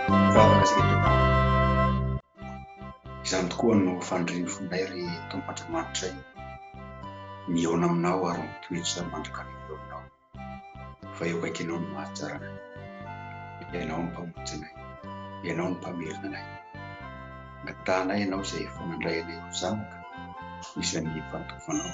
Mivavaka isika Tompo ô. Izany tokoa no fanirian'ny fonay ry Tompo Andriamanitray, mihaona aminao ary mitoetra mandrakariva eo aminao, fa eo akaikinao no mahatsara anay. Ianao no Mpamonjy anay, Ianao no Mpamerina anay. Angatahanay Ianao izay efa nandray anay ho zanaka isan'ny efa nitovanao.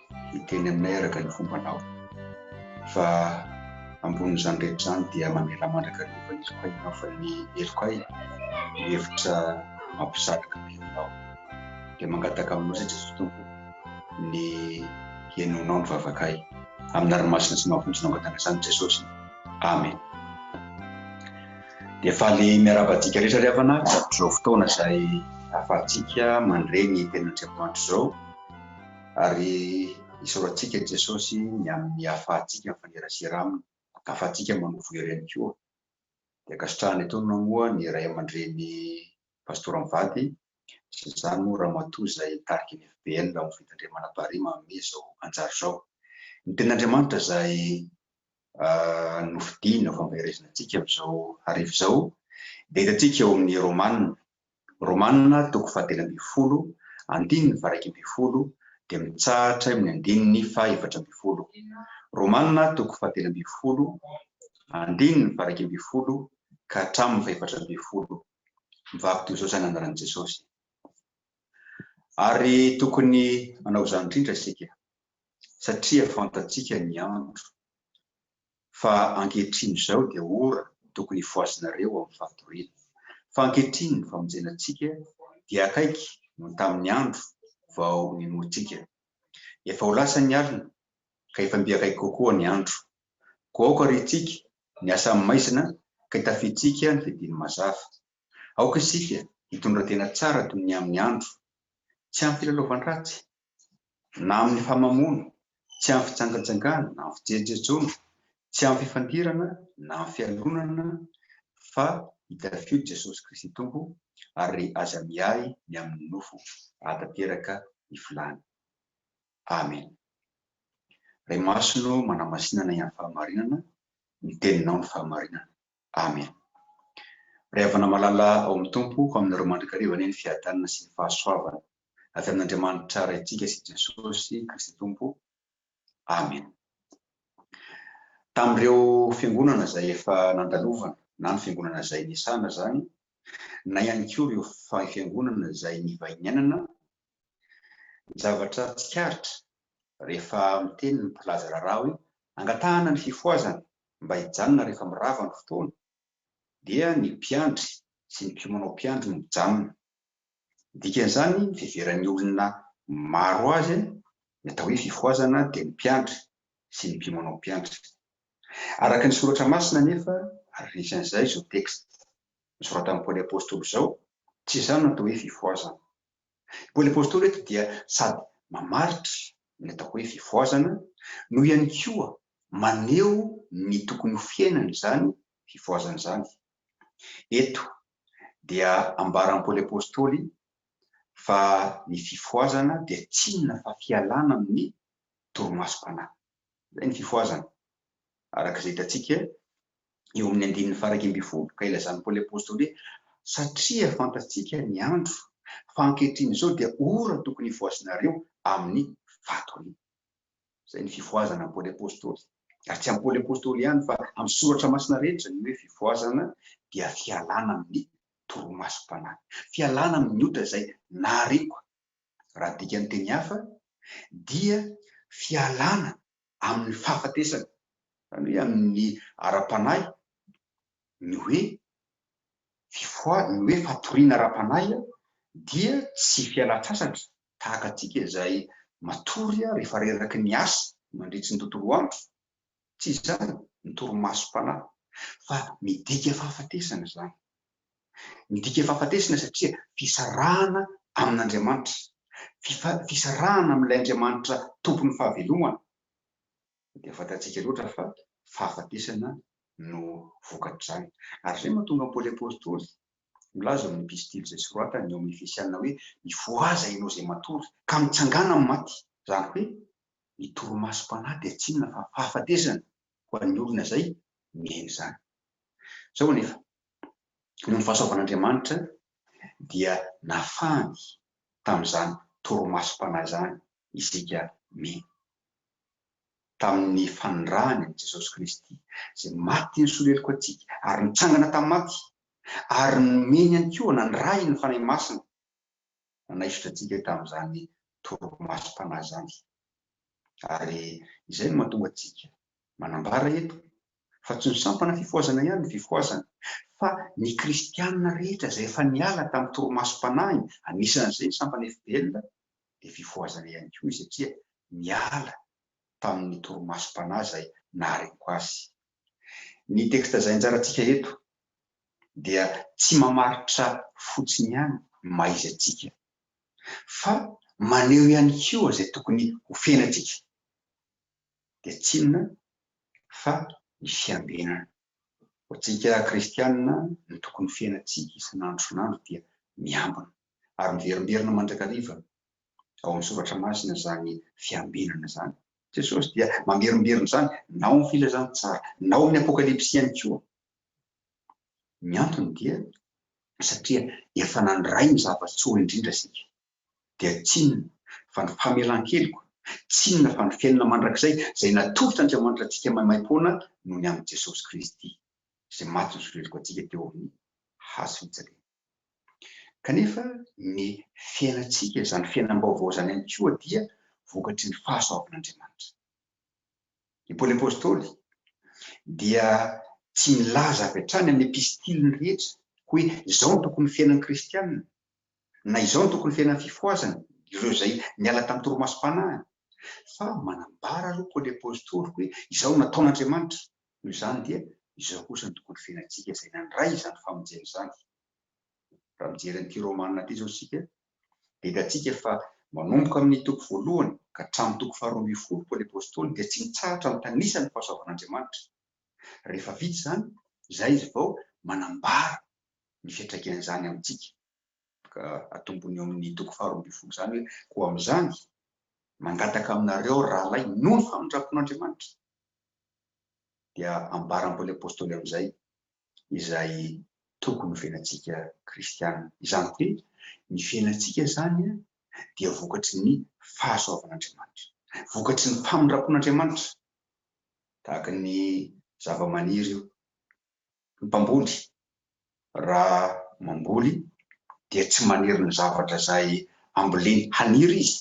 hiteny aminay araka ny fombanao. Fa ambonin'izany rehetra izany dia mamela mandraka ny hovan'izy koa ianao fa ny heloka ay no hevitra mampisaraka ny henonao. Dia mangataka aminao izay Jesoa Tompo ny henonao ny vavakay. Amina ry masina sy mahavonjy nangataka izany Jesosy. Amen. Dia faly miaraba antsika rehetra ry havana amin'izao fotoana izay ahafahantsika mandre ny tenin'Andriamanitra izao. Ary isaorantsika i Jesosy ny amin'ny hahafahantsika mifanerasera Aminy, ahafahantsika manovo hery ihany koa. Dia ankasitrahana etoana moa ny Ray aman-dReny Pastora mivady, sy izany moa Ramatoa izay hitariky ny FBL ao amin'ny Fitandremana Paris manome izao anjara izao. Ny Tenin'Andriamanitra izay nofidiny ho fampaherezana antsika amin'izao hariva izao, dia hitantsika ao amin'ny Romana, Romana toko fahatelo ambin'ny folo, andininy faha-iraika ambin'ny folo, dia mitsahatra eo amin'ny andininy faha-efatra ambin'ny folo. Romana toko fahatelo ambin'ny folo, andininy faha-iraika ambin'ny folo ka hatramin'ny faha-efatra ambin'ny folo. Mivaky toy izao izany andalan'i Jesosy. Ary tokony hanao izany indrindra isika, satria fantatsika ny andro. fa ankehitriny izao dia ora no tokony hifohazinareo amin'ny fahatoriana, fa ankehitriny ny famonjenantsika dia akaiky noho tamin'ny andro vao ninoantsika. Efa ho lasa ny alina, ka efa mby akaiky kokoa ny andro. Koa aoka ry isika ny asa amin'ny maizina ka hitafiantsika ny fidiny mazava. Aoka isika hitondra tena tsara toy ny amin'ny andro tsy amim-pilalaovan-dratsy, na amin'ny famamoana, tsy amin'ny fijangajangana na amin'ny fijejojejoana, tsy amin'ny fifandirana na amin'ny fialonana, fa itafio Jesosy Kristy Tompo, ary aza miahy ny amin'ny nofo ahatanteraka ny filàny. Amena. Ry Masonao manamasinana ihany fahamarinana, ny Teninao no fahamarinana. Amen. Ray Havana Malala ao amin'ny Tompo, ho aminareo mandrakariva anie ny fiadanana sy ny fahasoavana avy amin'Andriamanitra Raintsika sy Jesosy Kristy Tompo. Amen. Tamin'ireo fiangonana izay efa nandalovana na ny fiangonana izay nisana izany, na ihany koa ireo fiangonana izay nivahinianana, ny zavatra tsikaritra rehefa miteny ny mpilaza raharaha hoe angatahana ny fifohazana mba hijanona rehefa mirava ny fotoana dia ny mpiandry sy ny mpiomanao mpiandry no mijanona. Ny dikan'izany ny fiheveran'ny olona maro azy ny atao hoe fifohazana dia ny mpiandry sy ny mpiomanao mpiandry. Araka ny soratra masina anefa ary anisan'izay izao texte nosoratan'i Paoly Apostoly izao tsy izany no atao hoe fifohazana. Paoly Apostoly eto dia sady mamaritra ny atao hoe fifohazana no ihany koa maneho ny tokony ho fiainana izany fifohazana izany. Eto dia ambaran'i Paoly Apostoly fa ny fifohazana dia tsy inona fa fialana amin'ny torimasom-panahy. Izay ny fifohazana, araka izay hitantsika eo amin'ny andininy faharaika ambin'ny folo, ka ilazan'i Paoly Apostoly hoe, Satria fantatsika ny andro, fa ankehitriny izao dia ora tokony hifohazinareo amin'ny fatoriana. Izay ny fifohazana amin'i Paoly Apostoly. Ary tsy amin'i Paoly Apostoly ihany, fa amin'ny soratra masina rehetra, ny hoe fifohazana dia fialana amin'ny torimasom-panahy, fialana amin'ny ota izay nahariako Raha adika ny teny hafa dia fialana amin'ny fahafatesana, izany hoe amin'ny ara-panahy, ny hoe fifoha, ny hoe fatoriana ara-panahy dia tsy fialan-tsasatra tahaka antsika izay matory rehefa reraky ny asa mandritry ny tontolo andro, Tsy izany ny torimasom-panahy fa midika fahafatesana izany. Midika fahafatesana satria fisarahana amin'Andriamanitra, fisarahana amin'ilay Andriamanitra Tompon'ny fahavelomana. Dia fantatsika loatra fa fahafatesana no vokatr'izany. Ary izay no mahatonga an'i Paoly Apostoly milaza ao amin'ny epistily izay soratany ao amin'ny Efesiana hoe, Mifohaza ianao izay matory, ka mitsangàna amin'ny maty. Izany hoe, Ny torimasom-panahy dia tsy inona fa fahafatesana ho an'ny olona izay miaina izany. Izao anefa, noho ny fahasoavan'Andriamanitra, dia nafahany tamin'izany torimasom-panahy izany isika miaina. Tamin'ny fanondrahany an'i Jesosy Kristy, izay maty nisolo heloka antsika ary nitsangana tamin'ny maty, ary nomeny ihany koa nandrahiny ny Fanahy Masina, nanaisotra antsika tamin'izany torimasom-panahy izany. Ary izay no mahatonga antsika manambara eto fa tsy ny sampana fifohazana ihany no fifohazana, fa ny kristiana rehetra izay efa niala tamin'ny torimasom-panahy, anisan'izay ny sampana FPL, dia fifohazana ihany koa izy satria niala tamin'ny torimasom-panahy izay nahareko azy Ny texte zainjarantsika eto dia tsy mamaritra fotsiny ihany ny maha izy antsika fa maneho ihany koa izay tokony ho fiainantsika dia tsy inona fa ny fiambenana. Ho antsika kristianina ny tokony ho fiainantsika isan'andro isan'andro dia miambina ary miverimberina mandrakariva ao amin'ny soratra masina izany fiambenana izany Jesosy dia mamerimberina izany na ao amin'ny Filazantsara na ao amin'ny Apokalypsy ihany koa. Ny antony dia satria efa nandray ny zava-tsoa indrindra isika. Dia tsinona fa ny famelan-keloka, tsinona fa ny fiainana mandrakizay izay natolotr'Andriamanitra antsika maimaim-poana no ny amin'i Jesosy Kristy, izay maty nosoreloka antsika teo amin'ny hazo fijaliana. Kanefa ny fiainantsika, izany fiainam-baovao izany ihany koa dia vokatry ny fahasoavan'Andriamanitra. I Paoly Apostoly dia tsy nilaza avy hatrany amin'ny epistiliny rehetra hoe izao no tokony ho fiainan'ny kristiana, na izao no tokony ho fiainan'ny fifohazana, ireo izay niala tamin'ny torimasom-panahiny, fa manambara aloha Paoly Apostoly hoe izao no nataon'Andriamanitra, Noho izany dia izao kosa no tokony fiainantsika izay nandray izany famonjena izany. Raha mijery an'ity Romana ity izao isika dia hitantsika fa manomboka amin'ny toko voalohany ka hatramin'ny toko faharoa ambin'ny folo Paoly Apostoly dia tsy mitsahatra mitanisa ny fahasoavan'Andriamanitra. Rehefa vita izany, izay izy vao manambara ny fiantraikan'izany amintsika. Ka atombony eo amin'ny toko faharoa ambin'ny folo izany hoe, Koa amin'izany, mangataka aminareo aho rahalahy noho ny famindram-pon'Andriamanitra, dia ambaran'i Paoly Apostoly amin'izay izay tokony ho fiainantsika kristiana. Izany hoe ny fiainantsika izany dia vokatry ny fahasoavan'Andriamanitra, vokatry ny famindram-pon'Andriamanitra, tahaka ny zava-maniry io. Ny mpamboly raha mamboly dia tsy maniry ny zavatra izay amboleny haniry izy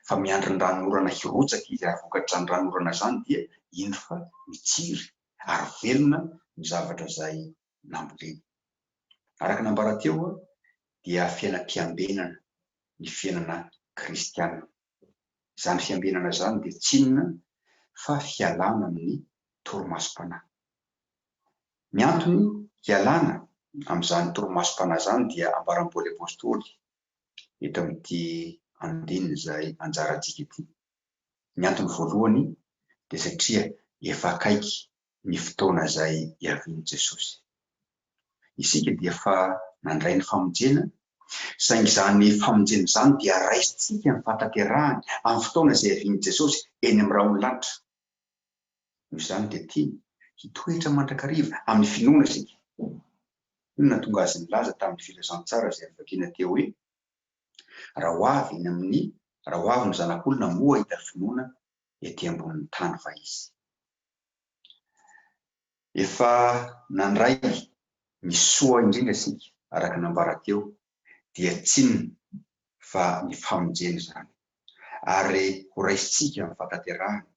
fa miandry ny ranonorana hirotsaka izy ary vokatr'izany ranonorana izany dia indro fa mitsiry ary velona ny zavatra izay namboleny. Araka ny ambara teo dia fiainam-piambenana ny fiainana kristiana. Izany fiambenana izany dia tsy inona fa fialana amin'ny torimasom-panahy. Ny antony hialana amin'izany torimasom-panahy izany dia ambaram-paoly apostoly eto amin'ity andininy izay anjarantsika ity. Ny antony voalohany dia satria efa akaiky ny fotoana izay hiavian'i Jesosy. Isika dia efa nandray ny famonjena, saingy izany famonjena izany dia raisintsika ny fahatanterahany amin'ny fotoana izay hiavian'i Jesosy eny amin'ny rahon'ny lanitra. Noho izany dia tiany hitoetra mandrakariva amin'ny finoana isika. Inona no nahatonga azy nilaza tamin'ny Filazantsara izay avy vakiana teo hoe, Raha ho avy ny amin'ny, raha ho avy ny Zanak'olona moa hahita finoana ety ambonin'ny tany va izy? Efa nandray ny soa indrindra isika, araka ny nambara teo dia tsinona fa ny famonjena izany, ary ho raisintsika amin'ny fahatanterahana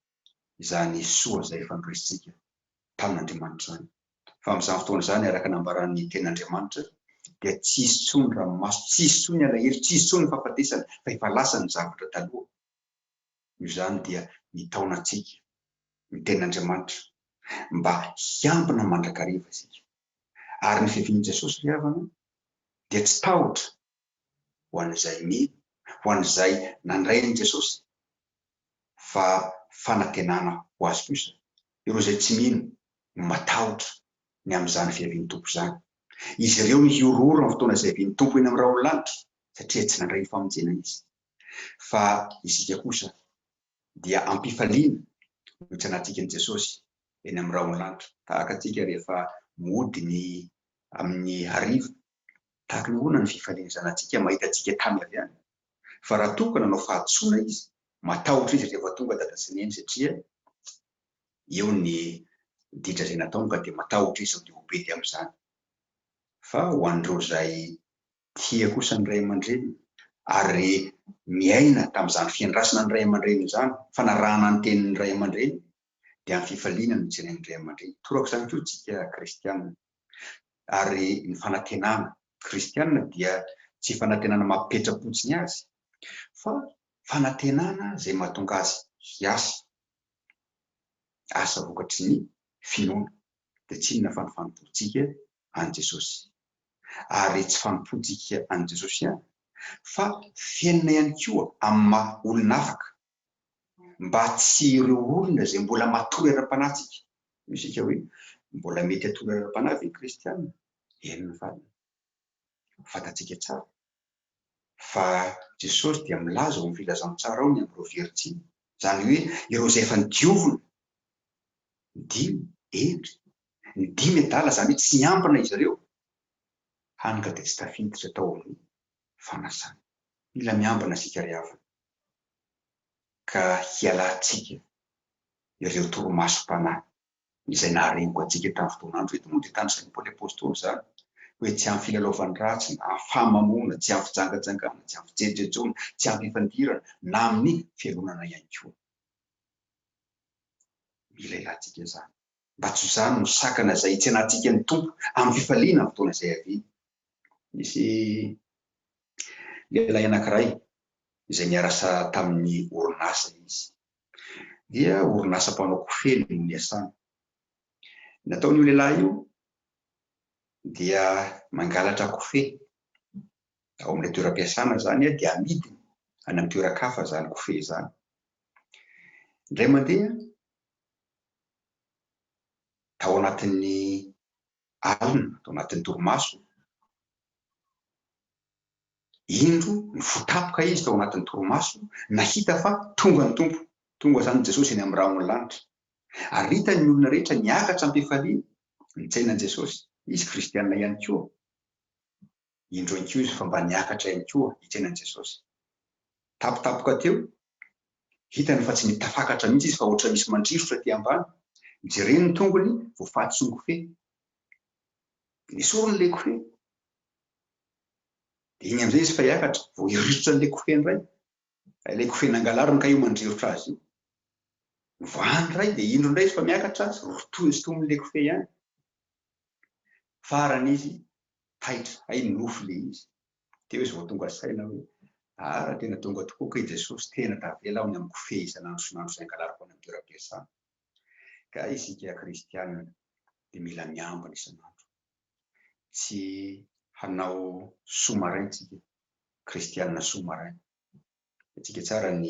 izany soa izay efa noraisintsika tamin'Andriamanitra izany. Fa amin'izany fotoana izany, araka ny nambaran'ny Tenin'Andriamanitra, dia tsy hisy intsony ranomaso, tsy hisy intsony alahelo, tsy hisy intsony ny fahafatesana, fa efa lasa ny zavatra taloha. Noho izany dia mitaona antsika ny Tenin'Andriamanitra mba hiambina mandrakariva isika. Ary ny fiavian'i Jesosy ry havana dia tsy tahotra ho an'izay mino, ho an'izay nandray an'i Jesosy, fa fanantenana ho azy kosa. Ireo izay tsy mino no matahotra ny amin'izany fiavian'ny Tompo izany. Izy ireo no hihorohoro amin'ny fotoana izay hiavian'ny Tompo eny amin'ny rahon'ny lanitra, satria tsy nandray ny famonjena izy. Fa isika kosa dia am-pifaliana no tsy hanatsikany Jesosy eny amin'ny rahon'antotra tahaka antsika rehefa mody ny amin'ny hariva. Tahaka ny ahoana ny fifalian'ny zanatsika mahita antsika tamy avy any? Fa raha toa ka nanao fahadisoana izy, matahotra izy rehefa tonga dada sy neny satria eo ny ditra izay nataony ka dia matahotra izy sao dia ho pety amin'izany. Fa ho an'ireo izay tia kosa ny ray aman-dreniny ary miaina tamin'izany fiandrasana ny ray aman-dreniny izany, fanarahana ny tenin'ny ray aman-dreniny, dia amin'ny fifaliana no hijeren'ny ray aman-dreny. Toraka izany koa isika kristiana. Ary ny fanantenana kristiana dia tsy fanantenana maha-petra-potsiny azy, fa fanantenana izay mahatonga azy hiasa, asa vokatry ny finoana. Dia tsy inona fa ny fanompoantsika an'i Jesosy. Ary tsy fanompoantsika an'i Jesosy ihany, fa fiainana ihany koa amin'ny maha-olona afaka mba tsy ireo olona izay mbola matory ara-panahintsika. Hoy isika hoe, Mbola mety hatory ara-panahy ve ny Kristianina? Eny ny valiny. Ho fantatsika tsara fa Jesosy dia milaza ao amin'ny Filazantsara ao ny amin'ireo virjiny, izany hoe ireo izay efa nodiovina. Ny dimy, hendry, ny dimy adala, izany hoe tsy niambina izy ireo, hany ka dia tsy tafiditra tao amin'ny fanasana. Mila miambina isika ry havana. ka hialantsika ireo torimasom-panahy izay naharengoka antsika tamin'ny fotoan'andro. Eto moa dia tanisain'i Paoly Apostoly izany hoe tsy amin'ny filalaovan-dratsy na amin'ny fahamamoana, tsy amin'ny fijangajangana, tsy amin'ny fijejojejoana, tsy amin'ny fifandirana na amin'ny fialonana ihany koa. Mila ilantsika izany mba tsy ho izany no sakana izay hitsenantsika ny Tompo amin'ny fifaliana amin'ny fotoana izay havia. Nisy lehilahy anankiray izay niarasa tamin'ny orinasa izy, dia orinasa mpanao kofehy no niasany. Ny nataon'io lehilahy io dia mangalatra kofehy ao amin'ilay toeram-piasana izany dia amidiny any amin'ny toeran-kafa izany kofehy izany. Indray mandeha, tao anatin'ny alina ato anatin'ny torimasoko. Indro nifotapka izy tao anatin'ny torimaso, nahita fa tonga ny Tompo. Tonga izany Jesosy eny amin'ny rahon'ny lanitra. Ary hitan'ny olona rehetra niakatra am-pifaliana. Nitsaina an'i Jesosy. Izy kristiana ihany koa. Indro ankizo fa mba niakatra ihany koa hitrena an'i Jesosy. Tampotampoka teo, hitany fa tsy mety tafakatra mihitsy izy fa hoatra misy mandrirotra aty ambany. Jereny ny tongony, voafaty sy mikofehy. Nesoriny ilay kofehy. Dia iny amin'izay izy fa hiakatra, vao hirirotra an'ilay kofehy indray. Ilay kofehy nangalariny ka io mandrirotra azy io. Novahany indray, dia indro indray izy fa miakatra azy, rotoin'ny sitomin'ilay kofehy ihany. Farany izy taitra hay ny nofy le izy teo izy vao tonga saina hoe aah tena tonga tokoa kay Jesosy tena tavela aho ny amin'ny kofehy isan'andro isan'andro izay angalariko any amin'ny toeram-piasana ka isika kristiana dia mila miambina isan'andro tsy hanao sous-marin isika kristiana sous-marin Midika tsara ny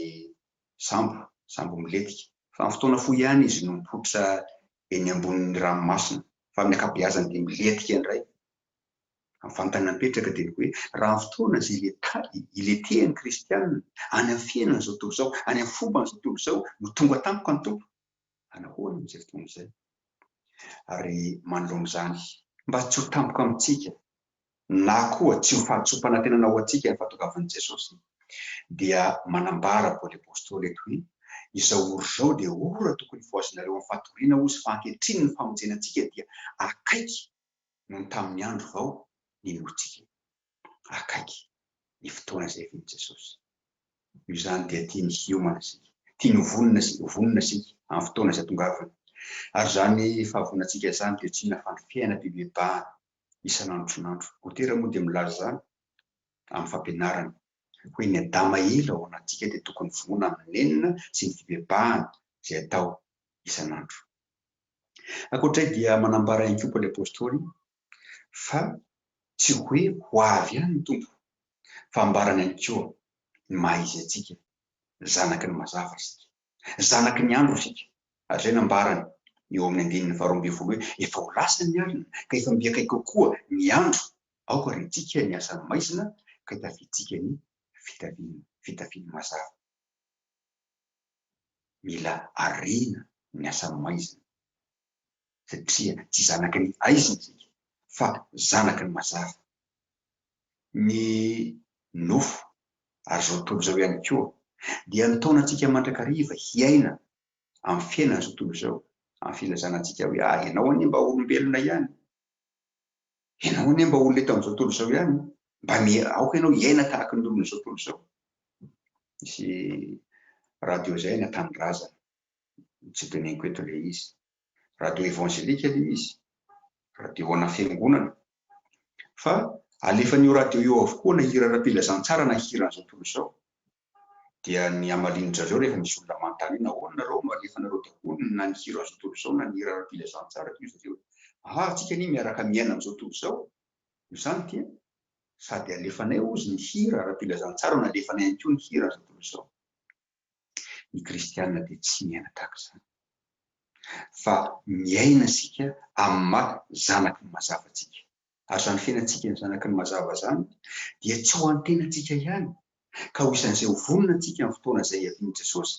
sambo, sambo milentika. Fa amin'ny fotoana fohy ihany izy no mipoitra eny ambonin'ny ranomasina, fa amin'ny ankabeazany dia milentika indray. Amin'ny fanontaniana mipetraka dia ny hoe, raha amin'ny fotoana izay iletahy, iletehan'ny kristiana, any amin'ny fiainan'izao tontolo izao, any amin'ny fomban'izao tontolo izao no tonga tampoka ny Tompo, anahoana amin'izay fotoana izay? Ary manoloana izany. Mba tsy ho tampoka amintsika, na koa tsy ho fahatsoam-panantenana ho antsika ny fahatongavan'i Jesosy, dia manambara Paoly Apostoly eto hoe, Izao ora izao dia ora tokony hifohazinareo amin'ny fatoriana, hoy izy, fa ankehitriny ny famonjena antsika dia akaiky noho ny tamin'ny andro vao ninoantsika io. Akaiky ny fotoana izay hiavian'i Jesosy. Noho izany dia tiany hiomana isika. Tiany ho vonona sy ho vonona isika amin'ny fotoana izay tongavany. Ary izany fahavononantsika izany dia tsy inona fa ny fiainana bebebahana isan'andron'andro. Lotera moa dia milaza izany amin'ny fampianarany. Hoy ny Adama ila ao anatintsika dia tokony vonoina amin'ny nenina sy ny fibebahana izay atao isan'andro. Ankoatr'izay dia manambara ihany koa Paoly Apostoly fa tsy hoe ho avy ihany ny Tompo fa ambarany ihany koa ny maha izy antsika, zanaky ny mazava isika. Zanaky ny andro isika, ary izay nambarany eo amin'ny andininy faharoa ambin'ny folo hoe, Efa ho lasa ny alina, ka efa mby akaiky kokoa ny andro. Aoka ry antsika ny asan'ny maizina, ka itafiantsika ny fitafiany, fitafiany mazava. Mila ariana ny asan'ny maizina. satria tsy zanaky ny aizina isika fa zanaky ny mazava, ny nofo, ary izao tontolo izao ihany koa dia nitaona antsika mandrakariva hiaina amin'ny fiainan'izao tontolo izao amin'ny filazana antsika hoe ah ianao anie mba olombelona ihany, ianao anie mba olona eto amin'izao tontolo izao ihany, mba miha aoka ianao hiaina tahaka ny olon'izao tontolo izao. Nisy radio izay na tanindrazana, tsy teneniko eto ilay izy, radio evangelika aloha izy, radio ana fiangonana, fa alefan'io radio io avokoa na hira ara-pilazantsara na hiran'izao tontolo izao, dia ny hamalian-dry zareo rehefa misy olona manontany hoe nahoana nareo no alefanareo daholo na ny hiran'izao tontolo izao na ny hira ara-pilazantsara toy izay hoe ah antsika anie miaraka miaina amin'izao tontolo izao no izany dia sady alefanay hozy ny hira ara-pilazantsara no alefanay ihany koa ny hiran'izao tontolo izao. Ny kristiana dia tsy miaina tahaka izany, fa miaina isika amin'ny maha zanaky ny mazava antsika. Ary izany fiainantsika ny zanaky ny mazava izany dia tsy ho an'ny tenantsika ihany, ka ho isan'izay ho vonona antsika amin'ny fotoana izay hiavian'i Jesosy,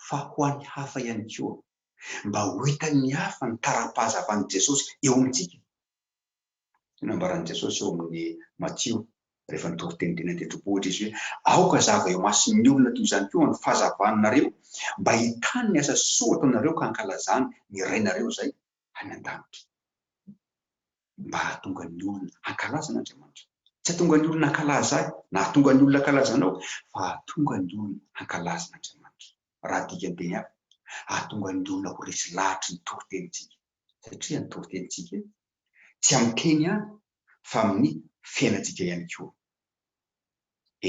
fa ho an'ny hafa ihany koa, mba ho hitan'ny hafa ny tara-pahazavan'i Jesosy eo amintsika. Io no nambaran'i Jesosy ao amin'ny Matio, rehefa nitory teny teny an-tendrombohitra izy hoe, Aoka hazava eo imason'ny olona toy izany koa ny fahazavanareo, mba hahitany ny asa soa ataonareo ka hankalazany ny Rainareo izay any an-danitra. Mba hahatonga ny olona hankalaza an'Andriamanitra. Tsy hahatonga ny olona hankalaza ahy, na hahatonga ny olona hankalaza anao, fa hahatonga ny olona hankalaza an'Andriamanitra. Raha adika an-teny hafa, hahatonga ny olona ho resy lahatra ny toritenintsika, satria ny toritenintsika tsy amin'ny teny ihany fa amin'ny fiainantsika ihany koa.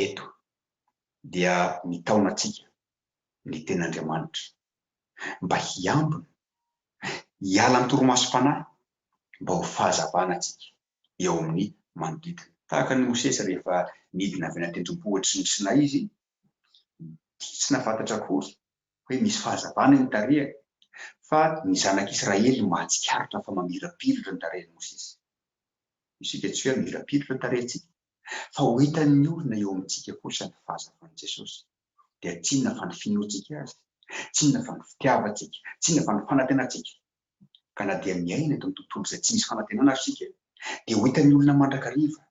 Eto dia mitaona antsika ny Tenin'Andriamanitra mba hiambina, hiala ny torimasom-panahy mba ho fahazavana antsika eo amin'ny manodidina. Tahaka an'i Mosesy rehefa nidina avy any an-tendrombohitry ny Sinay izy, dia tsy nahafantatra akory hoe misy fahazavana eny tarehany, fa ny Zanak' Israely mahatsikaritra fa mamirapiratra ny tarehin' i Mosesy. Isika tsy hoe hamirapiratra ny tarehintsika, fa ho hitan' ny olona eo amintsika kosa ny fahazavan' i Jesosy. Dia tsy inona fa ny finoantsika Azy, tsy inona fa ny fitiavantsika, tsy inona fa ny fanantenantsika. Ka na dia miaina eto amin'ny tontolo izay tsy misy fanantenana aza isika, dia ho hitan'ny olona mandrakariva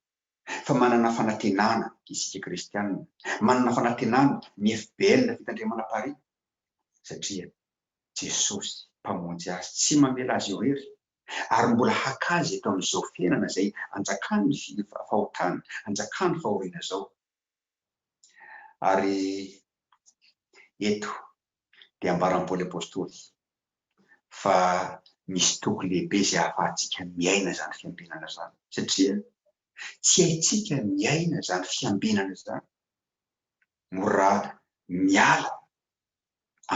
fa manana fanantenana isika kristianina, manana fanantenana ny FBL na Fitandremana Paris satria Jesosy Mpamonjy azy tsy mamela azy irery ary mbola haka azy eto amin'izao fiainana izay anjakan'ny fahotana, anjakan'ny fahoriana izao. Ary eto dia ambaran'i Paoly Apostoly fa misy toky lehibe izay ahafahantsika miaina izany fiambenana izany, satria tsy haintsika miaina izany fiambenana izany moa raha miala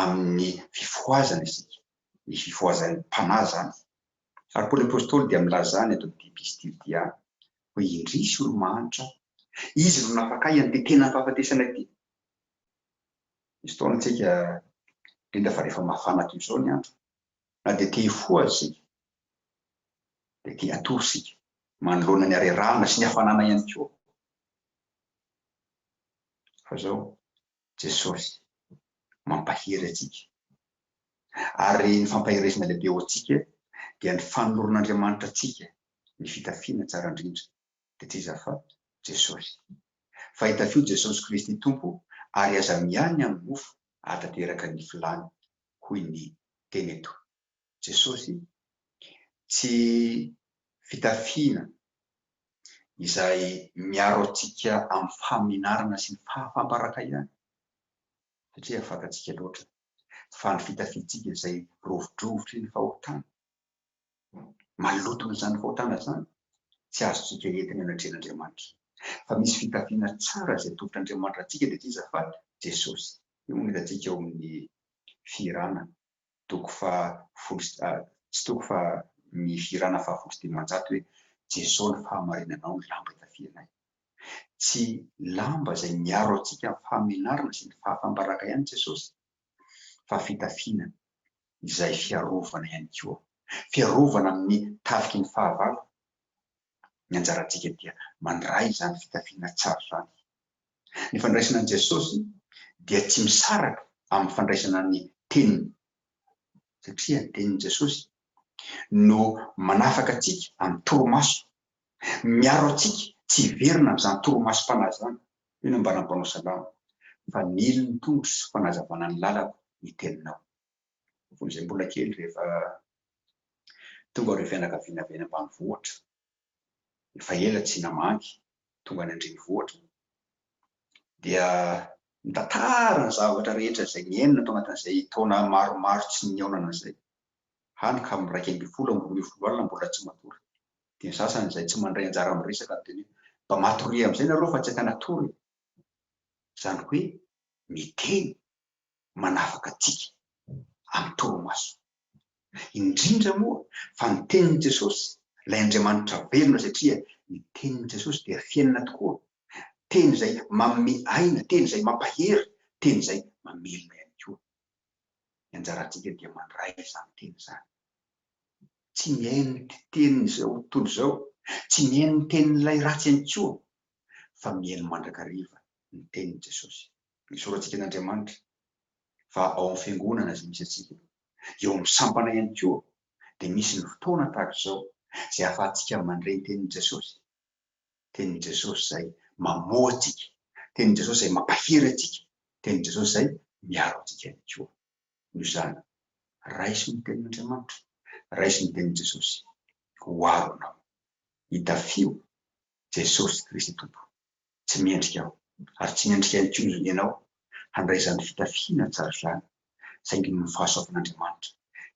amin'ny fifohazana isika, ny fifohazan'ny mpanahy izany. Ary Paoly Apostoly dia milaza any eto amin'ity epistily ity any hoe indrisy olo-mahantra, izy no nafaka ahy an'ity tena fahafatesana ity. Misy fotoana isika, indrindra fa rehefa mafana toy izao ny andro, na dia te hifoha aza isika, dia te hatory isika, manoloana ny harerahana sy ny hafanana ihany koa. Fa izao, Jesosy mampahery antsika. Ary ny fampaherezana lehibe ho antsika dia ny fanoloran'Andriamanitra antsika ny fitafiana tsara indrindra, Teteza fa Jesosy. Fa itafio Jesosy Kristy Tompo ary aza miahy ny angofo ahatanteraka ny filany hoy ny teny eto. Jesosy tsy fitafiana izay miaro antsika amin'ny fahamenarana sy ny fahafam-baraka ihany satria fantatsika loatra fa ny fitafiantsika izay rovidrovitry ny fahotana. Malotona izany fahotana izany, tsy azontsika entina eny an-dren'Andriamanitra. Fa misy fitafiana tsara izay atoron'Andriamanitra antsika dia iza fa Jesosy. Io no hitantsika ao amin'ny Fihirana toko fahafolo sy, tsy toko fa ny Fihirana fahafolo sy dimanjato hoe, Jesosy ny fahamarinanao no lamba itafianay. Tsy lamba izay miaro antsika amin'ny fahamenarana sy ny fahafam-baraka ihany Jesosy, fa fitafiana izay fiarovana ihany koa, fiarovana amin'ny tafiky ny fahavalo, ny anjarantsika dia mandray izany fitafiana tsara izany. Ny fandraisana an'i Jesosy dia tsy misaraka amin'ny fandraisana ny Teniny, satria ny Tenin'i Jesosy no manafaka antsika amin'ny torimaso, miaro antsika tsy hiverina amin'izany torimasom-panahy izany, hoy ny ambaran'ny mpanao salamo, Fanilo ny tongotro sy fanazavana ny lalako ny Teninao. Fony izay mbola kely rehefa tonga ireo fianakaviana avy any ambanivohitra, efa ela tsy namangy, tonga any an-drenivohitra, dia nitantara ny zavatra rehetra izay niainana tao anatin'izay taona maromaro tsy nihaonana izay, hany ka amin'ny iraika ambin'ny folo amby roa ambin'ny folo alina mbola tsy matory. Dia ny sasany izay tsy mandray anjara amin'ny resaka no teny hoe, Mba matoria amin'izay nareo fa tsy akan'atory e! Izany hoe, miteny. manafaka antsika amin'ny torimaso. Indrindra moa fa ny tenin'i Jesosy, ilay Andriamanitra velona satria ny tenin'i Jesosy dia fiainana tokoa, teny izay manome aina, teny izay mampahery, teny izay mamelona ihany koa. Ny anjarantsika dia mandray izany teny izany. Tsy mihaino ny tenin'izao tontolo izao, tsy mihaino ny tenin'ilay ratsy ihany koa, fa mihaino mandrakariva ny tenin'i Jesosy. ny soratsika an' Andriamanitra fa ao amin'ny fiangonana izay misy antsika, eo amin'ny sampana ihany koa dia misy ny fotoana tahaka izao izay ahafahantsika mandre ny tenin'i Jesosy, tenin'i Jesosy izay mamoha antsika, tenin'i Jesosy izay mampahery antsika, tenin'i Jesosy izay miaro antsika ihany koa. Noho izany, raiso ny tenin' Andriamanitra, raiso ny tenin'i Jesosy ho aro anao, itafio Jesosy Kristy Tompo. Tsy mendrika aho, ary tsy mendrika ihany koa ianao, handray izany fitafiana tsara izany, saingy noho ny fahasoavan'Andriamanitra,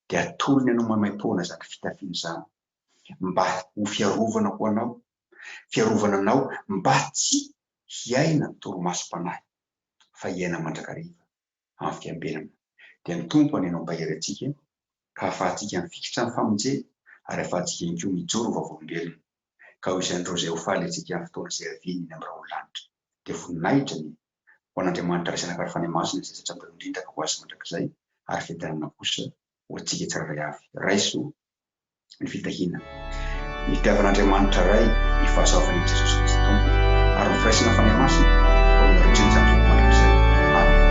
dia atolony anao maimaim-poana izany fitafiana izany, mba ho fiarovana ho anao, fiarovana anao mba tsy hiaina torimasom-panahy, fa hiaina mandrakariva. amin'ny fiambenana. Dia ny Tompo anio mampahery antsika ka ahafahantsika mifikitra amin'ny famonjena ary ahafahantsika ihany koa mijoro ho vavolombelona. Ka ho isan'ireo izay ho faly antsika amin'ny fotoana izay haviany eny amin'ny raolinlanitra. Dia voninahitra ny. Ho an'Andriamanitra Ray sy Anaka Ray Fanahy Masina izay zatra mpanondrindaka ho Azy mandrakizay ary fiadanana kosa ho antsika tsirairay avy. Raiso ny fitahiana. Nitiavan'Andriamanitra Ray ny fahasoavan'i Jesosy Kristy Tompo ary nofiraisana Fanahy Masina ho anareo indrindra izany zotom-andro izany. Amena.